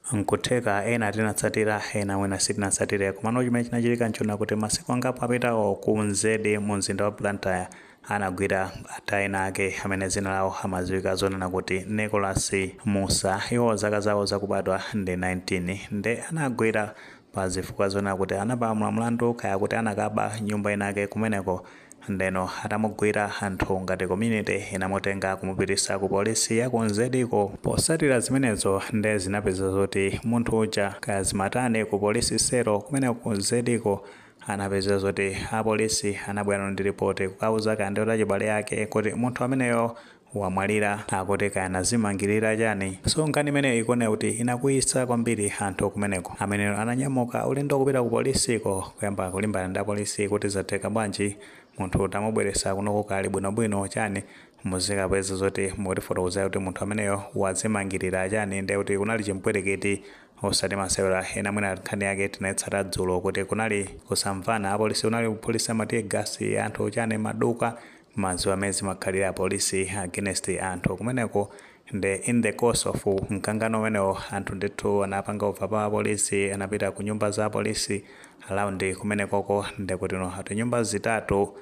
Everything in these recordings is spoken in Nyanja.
N'kutheka ena tinatsatira, ena mwina sitinatsatire. Komano chimene chinachitika n'chonena kuti masiku angapo apitawo ku Mzedi mumzinda wa Blantyre anagwira anthu enaake amene dzina lawo amadziwika zonena kuti Nicholas Mussa. Iwowa zaka zawo zakubadwa ndi 19. Nde anawagwira pa zifukwa zonena kuti anapalamula mlandu kaya kuti anakaba nyumba inayake kumeneko. Ndeno atamugwira anthu ngati community inamutenga kumupitisa ku police ya ku Mzedi ko posatira zimenezo nde zinapezeka zoti munthu uja kaya zimatani ku police cell kumeneko ku Mzedi ko anapezeka zoti a police anabwera ndi report kukauza kaya ndi achibale ake kuti munthu ameneyo wamwalira akuti kaya anazimangilira chani so nkhani imeneyo ikuoneka kuti inakwiyisa kwambiri anthu kumeneko amene ananyamuka ulendo kupita ku police ko kuyamba kulimbana ndi apolisi kuti zatheka bwanji munthu tamubweresa kunoko ali bwino bwino chani muzikapeza zoti mukutifotokozera kuti munthu ameneyo wazimangilira chani nde kuti kunali chipwirikiti osati masewera ena mwina nkhani yake tinaitsata dzulo kuti kunali kusamvana apolisi kunali kuphulisa ma tear gas anthu chani maduka Mumadziwa mmene zimakhalira apolisi against anthu kumeneko nde in the course of mkangano umenewo anthu ndithu anapanga overpower apolisi anapita kunyumba za apolisi around kumenekoko ndekuti ati nyumba zitatu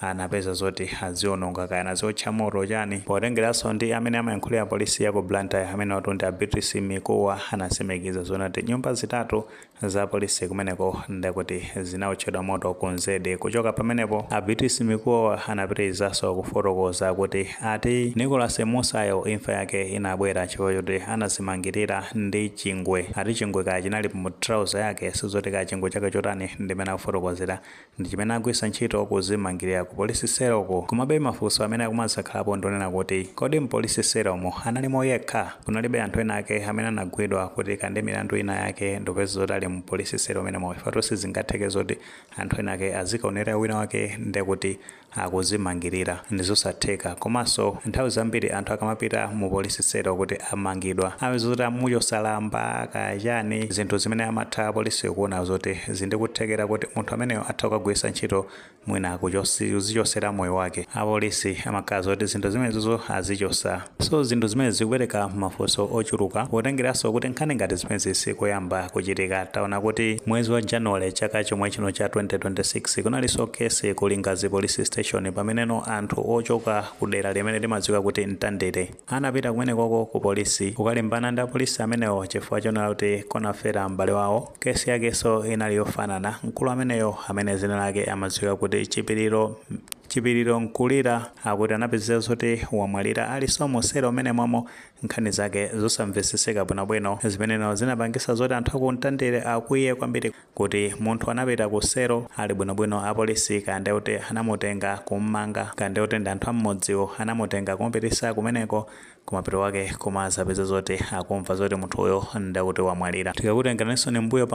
anapeza zoti aziononga kaya anaziotcha moto chani. Potengeraso ndi amene amayankhulira polisi yaku Blantyre amenewotu ndi a Beatrice Mikuwa anasimikiza zonena kuti nyumba zitatu Za police kumeneko ndekuti zinaotchedwa moto ku Mzedi. Kuchoka pamenepo a Beatrice Mikuwa anapitilizaso kufotokoza kuti ati Nicholas Mussa yo imfa yake inabwera chifukwa choti anazimangilira ndi chingwe. Ati chingwe kaya chinali mu trouser yake sizoti kaya chingwe chake chotani ndimene akufotokozera. ndi chimene agwiritsa ntchito kuzimangilira ku police cell ko, komabe mafunso amene akumazakhalapo ndi onena kuti kodi mpolice cell mo analimo yekha? kunalibe anthu ena ake amene anagwidwa kuti kaya ndi milandu ina yake ndikupeza zoti ali mu police cell mmenemo chifukwatu sizingatheke zoti anthu ena ake azikaonerera wina wake ndekuti akuzimangilira ndizosatheka komanso nthawi zambiri anthu akamapita mu police cell kuti amangidwa amapeza zoti amuchosa lamba kaya chani zinthu zimene amatha apolice kuona zoti zili ndi kuthekera kuti munthu ameneyo atha kukagwiritsa ntchito mwina kuchos kuzichosera moyo wake apolisi amakhala zoti zinthu zimenezozo azichosa So zinthu zimenezi zikupereka mafunso ochuluka potengeraso kuti nkhani ngati zimenezi sikoyamba kuchitika taona kuti mwezi wa January chaka chomwechino cha 2026 kunaliso case ku Lingadzi police station pameneno anthu ochoka ku dera limene limadziwika kuti Mtandire anapita kumenekoko ku police kukalimbana ndi apolisi amenewo chifukwa chonena kuti kunafera m'bale wawo case yakeso inali yofanana mkulu ameneyo amene dzina lake amadziwika kuti Chipiliro Mkulira akuti anapezeka zoti wamwalira aliso musero mmenemomo nkhani zake zosamveseseka bwinobwino zimeneno zinapangisa zoti anthu a ku mtandire akwiye kwambiri kuti munthu anapita ku sero ali bwinobwino apolisi kaya ndekuti anamutenga kummanga kaya ndekuti ndi anthu ammudziwo anamutenga kumupitisa kumeneko kumapeto kwake koma azapeza zoti akumva zoti munthuyo ndakuti wamwalira tikakutenganinsoni mbuyo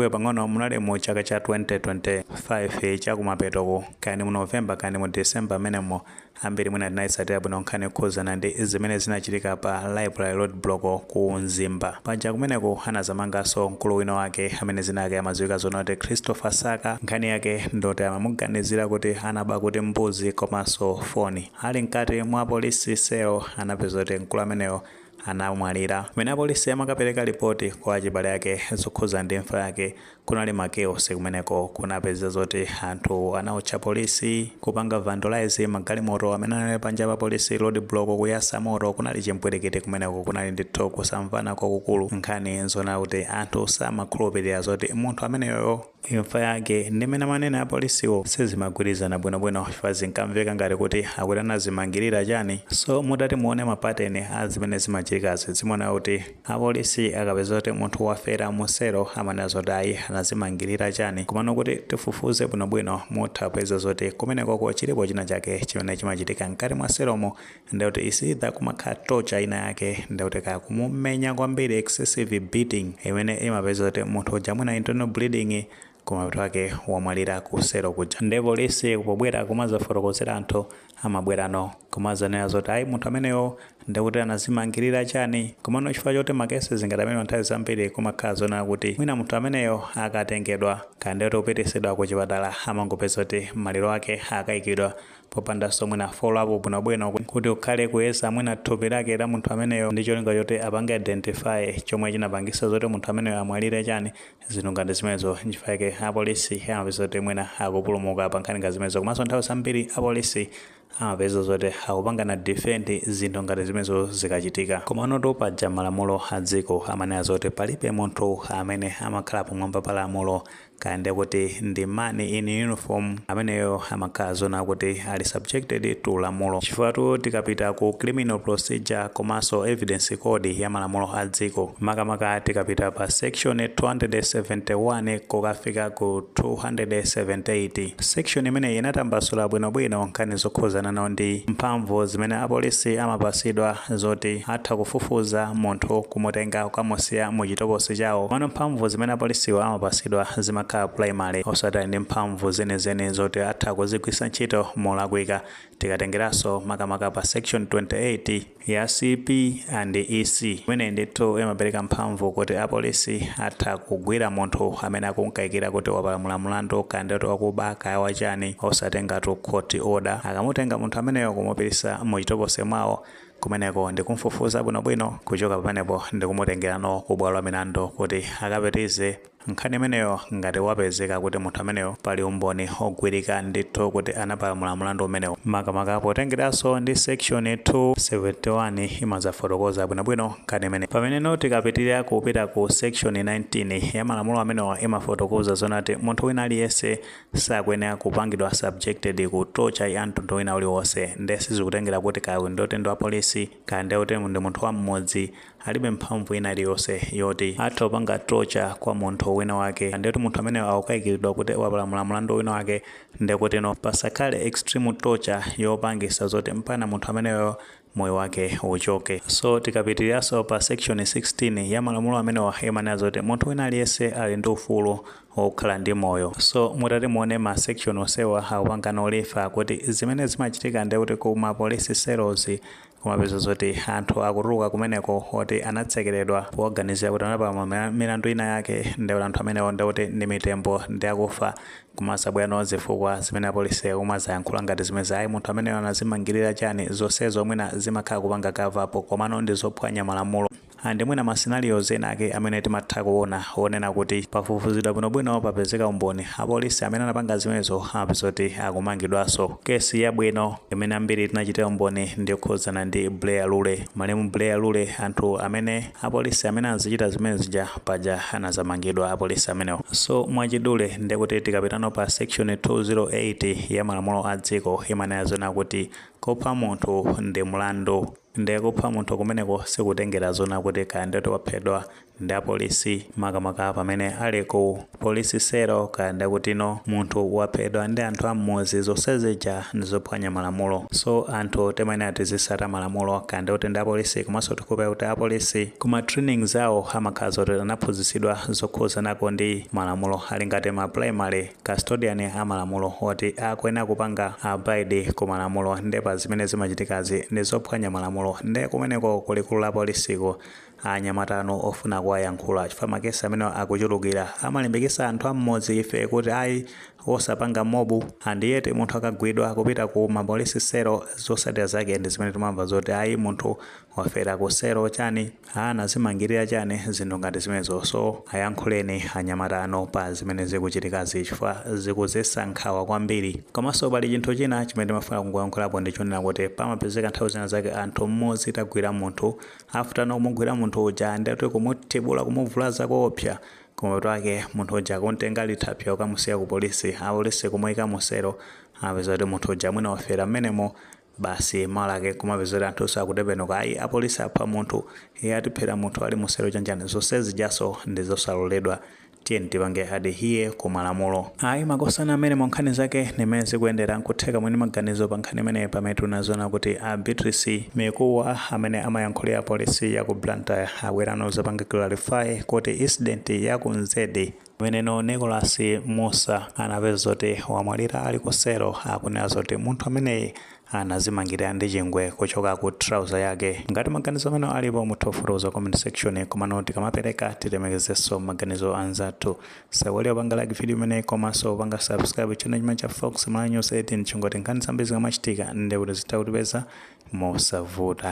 pang'ono munali mu chaka cha 2025 chakumapetoko kani mu november kani mu december mmenemo ambiri mwina tinayitsatira bwino nkhani yokhuzana ndi zimene zinachitika pa luviri road block ku mzimba paja kumeneko anazamanganso mkulu wina wake amene zina lake amadziwika zonena kuti christopher saka nkhani yake ndoti amamuganizira kuti anaba kuti mbuzi komanso foni Ali mkati mwa police cell anapeza kuti mkulu ameneyo anamwalira. Pamene apolisi amakapereka lipoti kwa achibale ake zokhuza ndi imfa yake, kunali ma chaos kumeneko. Kunapeza zoti anthu anaotcha polisi, kupanga vandalise magalimoto amene anali panja pa polisi, road block, kuyasa moto. Kunali chimpwirikiti kumeneko. Kunali ndithu kusamvana kwakukulu. Nkhani ndi zonena kuti anthu samakhulupirira zoti munthu ameneyoyo. Imfa yake ndi mmene amanenera apolisiwo sizimagwirizana bwinobwino chifukwa zinkamveka ngati kuti akuti anazimangirira chani so mutati muone ma pattern a zimene zimachitikazi zimaoneka kuti apolisi akapeza zoti munthu wafera mu selo amanena zoti ayi anazimangirira chani komano kuti tifufuze bwinobwino mutha kupeza zoti kumenekoko chilipo china chake chimene chimachitika mkati mwa selomo ndiye kuti is either kumakhala torture ina yake ndiye kuti kaya kumumenya kwambiri excessive beating imene imapeza kuti munthu uja mwina internal bleeding kumapeto kwake wamwalira kusero kuja ndiye polisi pobwera kumazafotokozera anthu amabwerano kumazanena zoti ayi munthu ameneyo ndikuti anazimangirira chani komano chifukwa choti makesi ngati amenewa nthawi zambiri kumakhala zonena kuti mwina munthu ameneyo akatengedwa kaya ndiye kuti kupitisidwa ku chipatala amangopeza kuti maliro ake akayikidwa popandanso mwina follow up bwino bwino kuti kukhale kuyeza mwina thupi lake la munthu ameneyo ndi cholinga choti apange identify chomwe chinapangisa zoti munthu ameneyo amwalire chani zinthu ngati zimenezo nchifukwa chake apolisi amapeza kuti mwina akupulumuka pa nkhani ngati zimenezo komanso nthawi zambiri apolisi amapeza zoti akupangana defend zinthu ngati zimenezo zikachitika komanotu paja malamulo a dziko amanena zoti palibe munthu amene amakhala pamwamba pa lamulo kaya nde kuti ndi man in uniform ameneyo amakhala zonena kuti ali subjected to lamulo chifukwatu tikapita ku criminal procedure komanso evidence code ya malamulo a dziko makamaka tikapita pa section 271 kukafika ku 278 section imeneyi inatambasula bwinobwino nkhani zokhuzanano ndi mphamvu zimene apolisi amapasidwa zoti atha kufufuza munthu kumutenga kukamusiya mu chitokosi chawo komano mphamvu zimene apolisiwa amapasidwa zimakhala primary osati ali ndi mphamvu zenizeni zoti atha kuzigwisa ntchito molakwika tikatengeranso makamaka pa section 28 ya CP and EC imeneyi ndithu imapereka mphamvu kuti apolisi atha kugwira munthu amene akumkaikira kuti wapalamula mlandu kaya ndi kuti wakuba kaya wachani osatengatu court order akamutenga munthu ameneyo kumupitisa mu chitokosi mwawo kumeneko ndikumfufuza bwinobwino, kuchoka pamenepo ndikumutengerano ku bwalo la milandu kuti akapitize nkhani imeneyo ngati wapezeka kuti munthu ameneyo pali umboni ogwirika ndithu kuti anapalamula mlandu umenewo makamaka potengeranso ndi section 271 imazafotokoza bwinobwino nkhani imeneyi. Pameneno tikapitirira kupita ku section 19 ya malamulo amenewa imafotokoza zonati munthu wina aliyense sakuyenera kupangidwa subjected ku torture ya mtundu wina uliwonse nde sizikutengera kuti kaya ndi kutino ndi wa polisi kaya ndi kuti ndi munthu wa mmudzi alibe mphamvu ina iliyonse yoti atha kupanga torture kwa munthu wina wake nde kuti munthu ameneyo akukayikiridwa kuti wapalamula mlandu wina wake nde kutino pasakhale extreme torture yopangisa zoti mpana munthu ameneyo moyo wake uchoke so tikapitiriranso pa section 16 ya malamulo amenewa imanena zoti munthu wina aliyense ali ndi ufulu wokhala ndi moyo so mutati muone ma section onsewa akupangana refer kuti zimene zimachitika ndi kuti ku ma police cells kumapeza zoti anthu akutuluka kumeneko oti anatsekeredwa poganizira kuti anapalamula milandu ina yake ndi kuti anthu amenewo ndi kuti ndi mitembo ndi akufa Kumazabwerano zifukwa zimene apolisi akumazayankhula ngati zimenezi ayi munthu ameneyo anazimangilira chani zonsezo mwina zimakhala kupanga cover up komano ndizophwanya malamulo and mwina ma scenarios ena ake amene timatha kuona onena kuti pafufuzidwa bwino bwino papezeka umboni apolisi amene anapanga zimenezo amapeza kuti akumangidwanso case yabwino imene ambiri tinachitira umboni ndiyokhudzana ndi Buleya Lule malemu Buleya Lule anthu amene apolisi amene anazichita zimene zija paja anazamangidwa apolisi amenewo so mwachidule ndekuti tikapitano pa section 208 ya malamulo a dziko imanena zona kuti kupha munthu ndi mlandu nde kupha munthu kumeneko sikutengera zona kuti kaya ndi kuti waphedwa ndi apolisi makamaka pamene ali ku Police cell kaya ndi kutino munthu waphedwa ndi anthu ammuzi zonsezija ndizophwanya malamulo so anthu timayenera tizisata malamulo kaya ndi kuti ndi apolisi komanso tikupeza kuti apolisi kuma training zawo amakhala zoti anaphunzitsidwa zokhuzanako ndi malamulo ali ngati ma primary custodian amalamulo oti akuyenera kupanga abide kumalamulo nde pazimene zimachitikazi ndizophwanya malamulo nde kumeneko kulikulu la polisiko Anyamatanu ofuna kuwayankhula chifukwa ma case amenewa akuchulukira amalimbikisa anthu a mmudzi ife kuti ayi osapanga mob and yet munthu akagwidwa akapita ku ma police cell zosatira zake ndi zimene timamva zoti ayi munthu wafera ku cell chani anazimangilira chani zinthu ngati zimenezo so ayankhuleni anyamatanu pa zimene zikuchitikazi chifukwa zikuzesa nkhawa kwambiri komaso pali chinthu china chimene timafuna kungoyankhulapo ndi chonena kuti pamapezeka nthawi zina zake anthu mmudzi tagwira munthu After nokumugwira munthu uja ndiye ayi kumuthibula kumuvulaza koopsa kumapeto ake munthu uja kumtenga ali thapsya kukamusiya ku police apolice kumuika mu cell apeza kuti munthu uja mwina wafera mmenemo basi mawa lake nkumapeza kuti anthunso akutembenuka ayi apolice apha munthu iye atiphera munthu ali mu cell chonchani zonse zijaso ndizosaloledwa tiyeni tipange adhere ku malamulo ayi makosana amenewo nkhani zake ndi mmene zikuyendera nkutheka muli ndi maganizo pa nkhani imene pamene tinazona kuti a beatrice mikuwa amene amayankhulira polisi ya ku blantyre abweranso kuzapanga clarify kuti incident ya ku nzedi amene nicolas musa anapezeka zoti wamwalira ali ku selo akunena zoti munthu ameneyi anazimangilira ndi chingwe kuchoka ku trouser yake. Ngati maganizo amene alipo mutha kufotokoza mu comment section komano tikamapereka tilemekezeso maganizo anzathu. Osaiwala kupanga like video imeneyi komaso kupanga subscribe channel chimene cha Fox Malawi News 18 cholinga choti nkhani zambiri zikamachitika nde kuti zitha kukupezani mosavuta.